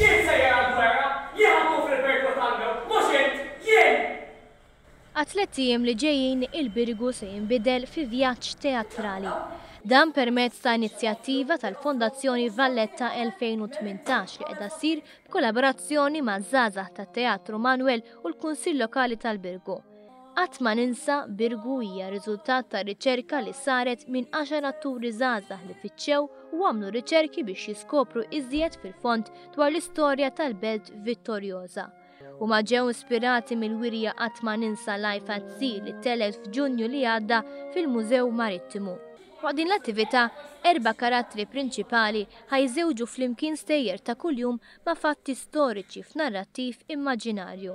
Jien sejjer għall-gwerra! Jien ħa nkun fil-Birkot Angel, mhux int! Jien! Għat-tlett ijiem li ġejjin il-Birgu se jinbidel fi vjaġġ teatrali. Dan permezz ta' inizjattiva tal-Fondazzjoni Valletta 2018 li qiegħda ssir b'kollaborazzjoni maż-żgħażagħ tat-Teatru Manwel u l-Kunsill Lokali tal-Birgu. Qatt ma ninsa Birgu hija riżultat ta' riċerka li saret minn għaxar atturi żgħażagħ li fittxew u għamlu riċerki biex jiskopru iżjed fil-fond dwar l-istorja tal-belt Vittorjoża. Huma ġew ispirati mill-wirja Qatt ma ninsa Life at Sea li telgħet f'Ġunju li għadda fil-Mużew Marittimu. Waqt din l-attività, erba' karattri prinċipali ħa jżewġu flimkien stejjer ta' kuljum ma' fatti storiċi f'narrattiv immaġinarju.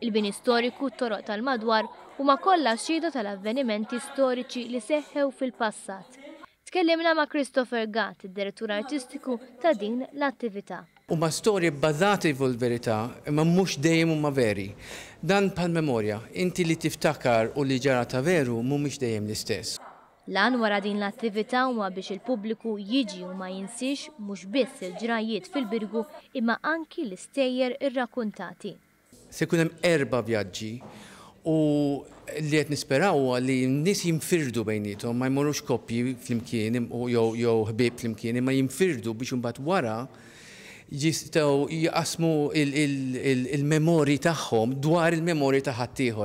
Il-bini storiku, t-toroq tal-madwar, huma kollha xhieda tal-avvenimenti storiċi li seħħew fil-passat. Tkellimna ma' Christopher Gatt, id-Direttur Artistiku ta' din l-attività. Huma storji bbażati fuq il-verità, imma mhux dejjem huma veri. Dan bħall-memorja, inti li tiftakar u li ġara ta' veru mhumiex dejjem l-istess. L-għan wara din l-attività huwa biex il-pubbliku jiġi u ma jinsiex mhux biss il-ġrajjiet fil-Birgu imma anki l-istejjer irrakkuntati. Se jkun hemm erba' vjaġġi u li qed nisperaw huwa li n-nies jinfirdu bejniethom, ma jmorrux koppji flimkien jew ħbieb flimkien imma jinfirdu biex imbagħad wara jistgħu jqassmu l-memorji tagħhom dwar il-memorji ta' ħaddieħor.